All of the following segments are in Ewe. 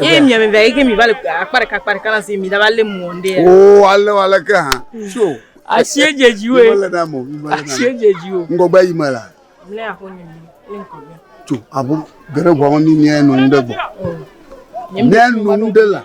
Ye mi ame via yeke mi va le akpa ɖeka akpa ɖeka na si mi da va le mu onde. O ale wa le ke ha. Sio. Asie je ji we. Mele na mo. Asie je ji o. Ngogbe yi me la. Mle a ko ni mi. Le ngogbe. Tu abo gere gwa ni ni enu de gbo. Ne nu de la.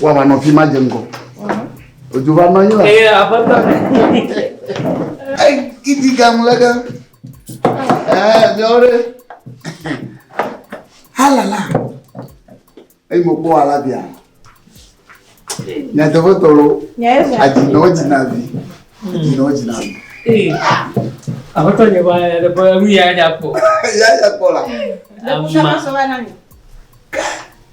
Wava nɔ fi ma dze ŋgɔ. Odzo va nɔ anyi la. Ee, aƒetɔ. Kiti gamu le ge. Ee, miawo ɖe. Halala. Eyi mo kpɔ ala bia. Nyateƒe tɔlo. Adzinɔ dzina vi. Adzinɔ dzina vi. Ee. Aƒetɔ nye va ya ɖe ƒe nu ya nya kpɔ. Ya nya kpɔ la. Ama.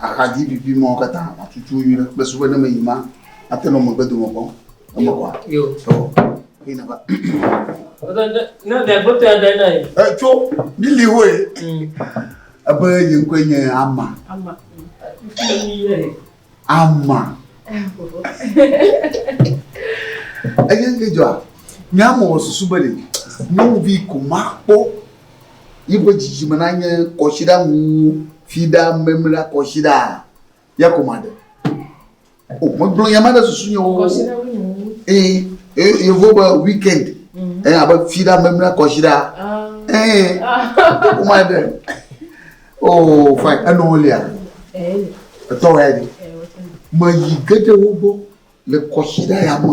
Axadzi pipi mɔ katã atutu yi ɖe kple sube ne me yi ma ate nɔ megbe dome kpɔ eme kɔ. Yo. Tɔ yi na ba. Ne ne gbɔtɔ ya dai nai. E tso lili wo ye. Ebe yi ŋkɔ nye ama. Ama. Ama. Eye ŋkejɔ a. Nyamɔ susu be de. Nyɔnuvi ko ma kpɔ. yi ƒe dzidzime nanye kɔsiɖa wuwu fiɖa memla kɔsiɖa ya ko maɖe o oh, megblɔ ya ma ɖe susu nye wo ee ee yevo be weekend mm. ee abe fiɖa memla kɔsiɖa ah. ee ko maɖe o oh, fine enɔ lia etɔ ya de me yi geɖewo gbɔ le kɔsiɖa ya me.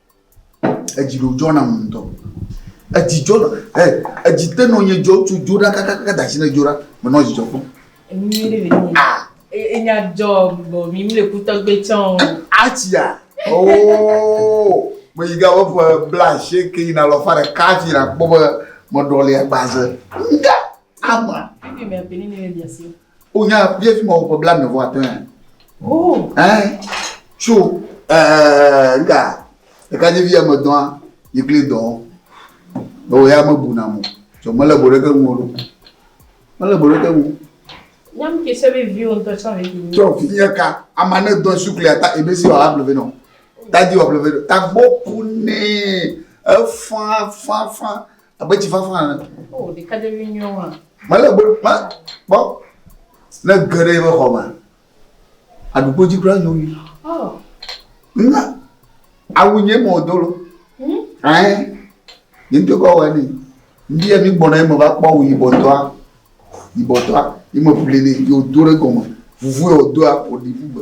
Edzi ɖo dzɔ nam ŋutɔ. Edzi dzɔ nam. Ɛ, edzi te nɔ nye dzɔ tso dzo ɖa kakaka da shi ne dzo ɖa. Me nɔ dzidzɔ kpɔm. Enyi ɖe le nyi. Ah. Enya dzɔ bɔ mi mi le kutɔ gbé tsɔ. Atsia. Oh. Me yi ga wo ƒe bla she ke yina lɔ fa ɖe kafi na kpɔ be me ɖɔ le agbaze. Nga. Ama. Bibi me pe ni ne le biasi. O nya bia fi ma o ƒe bla me vɔ atɔ ya. O. Ɛn. Tso. Ɛɛ nga. Eka dzi via me dɔa yi kli dɔ. O ya me bu na mo. Tso me le bo ɖe ke ŋu o. Me le bo ɖe ke ŋu. Nyam ki se bi vi o ntɔ tsa vi ki. Tso fi ya ka ama ne dɔ su kli ata ebe si wa ha bleve no. Ta di wa bleve no. Ta bo ku ne. Efa fa fa. Abe tsi fafa ene. O oh, ɖekadzevi nyuiwo hã. Mele gbe ma kpɔ ne ge ɖe eƒe xɔ me. Aɖukpo dzi kura nyo mi. Oh. Na awu nye mɔ do lo. Hmm? Ɛɛ. Nye ŋutɔ kɔ wɔ ni. Ndi yɛ mi gbɔna eme va kpɔ awu yibɔtɔa. Yibɔtɔa. Yi me ƒli ni yi wodo ɖe gɔme. Vuvu yɛ wodoa woɖi ƒugbe.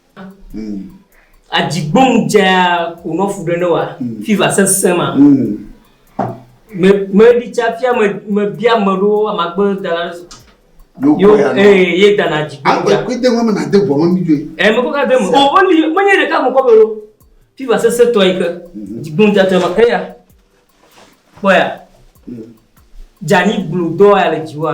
Mm. Adzigbonu dzaa wònɔ fu ɖe ne wa mm. fiva sesẽ ma. Mm. Meɖi tsa fia mebia me ɖo amagbe dala yo ee ye dana adzigbonu dzaa. Agbe kpete ŋɔ me na de ʋɔ me mi dzoe. Ɛ mekɔ ka de me o woli menye ɖeka mo kɔ be ɖo fiva sesẽ tɔ yi ke mhm. adzigbonu dzaa tɔ ma eya kpɔ ya dzani gblu dɔ ya le dziwa.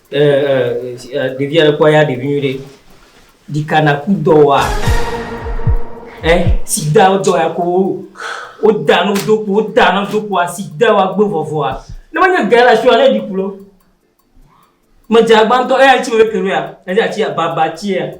Ɖevi aɖe kpɔ ya ɖevi nyuie ɖe. Ɖika naku dɔwɔa. Ɛ sida dɔ ya ko woda no do ko woda no do ko asida wa gbe vɔvɔa. Ne wonye gɛ la sua ne ɖikulo. Medze agbantɔ eya tsi wo ke roya. Eza tsi baba tsia.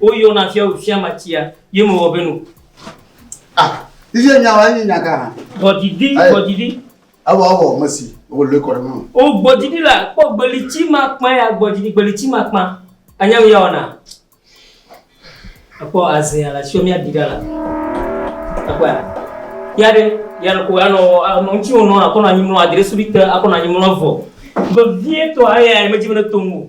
Woyɔna fiawu fiamatsia ye mewɔ be nu. Ah, iye nyawa enyi nyaga hã. Gbɔdidi, gbɔdidi. Awɔ awɔ mesi, wo le kɔ ɖe mɔ. O gbɔdidi la, kpɔ gbelitsi ma kpã ya gbɔdidi gbelitsi ma kpã. Anya mi ya wɔna. Akpɔ azɛ ala sio mi adi ɖa la. Akpɔ ya. Ya ɖe, ya ɖe ko ya nɔ anɔ ŋutsi wo nɔ akɔ nɔ anyi mlɔ adre subi te akɔ nɔ anyi mlɔ vɔ. Vevie tɔ aya ya me dzi me ne to ŋu.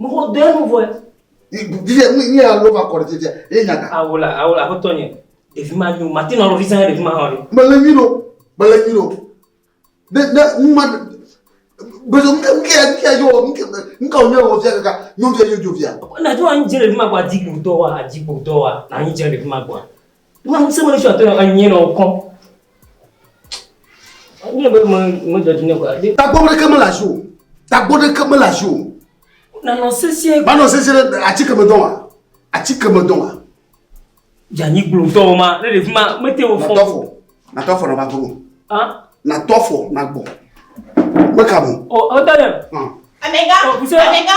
Mɔxɔ dɔ enu vɔe. Viviɛ nu nye alo va kɔ ɖe viviɛ ye nyaga. Awo la awo la aƒetɔ nye ɖevi ma nyo mati nɔ lɔvi sɛn ɖevi ma hã ɖe. Mele nyi ɖo mele nyi ɖo ne ne numa bezo nuke nuke nuke yɔ nuke nuke wònye wɔ fia kaka nyɔvia nyɔ dzovia. Na dzɔ anyi dze ɖevi ma gbɔ adi gbogdɔ wa adi gbogdɔ wa na anyi dze ɖevi ma gbɔ. Wọ́n ŋusẽ mele sɔ tɔnɔ anyi nɔ kɔ. Anyi nɔ bɛ mɔ mɔ jɔ dine kɔ. Tagbɔ mele ke mele asi o. Tagbɔ ɖe ke mele asi o. Nanɔ sesie. Manɔ sesie ɖe ati keme dɔn wa. Ati keme dɔn wa. Yanyi gblo dɔn ma. Ne ɖe fima mete wo fɔ. Natɔfɔ. Natɔfɔ na ba gblo. Ah. Natɔfɔ na gbɔ. Meka mo. O o tɔnɔ. Ah. Amega. Amega.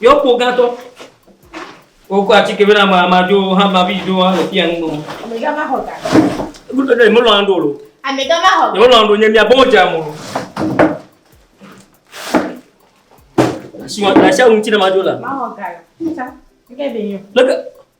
Yɔ kpo gãtɔ. Wokɔ atike bena ma ma dzo ha ma bi dzo ha le fia nu gbɔ. Ame gã ma xɔ ga. Ebe ɖe mo lɔ ando lo. Ame gã ma xɔ ga. Mo lɔ ando nye mia bo dza mo. Asi wa asi awun ti na ma dzo la. Ma xɔ ga la. Tsa. Ke be nyo. Leke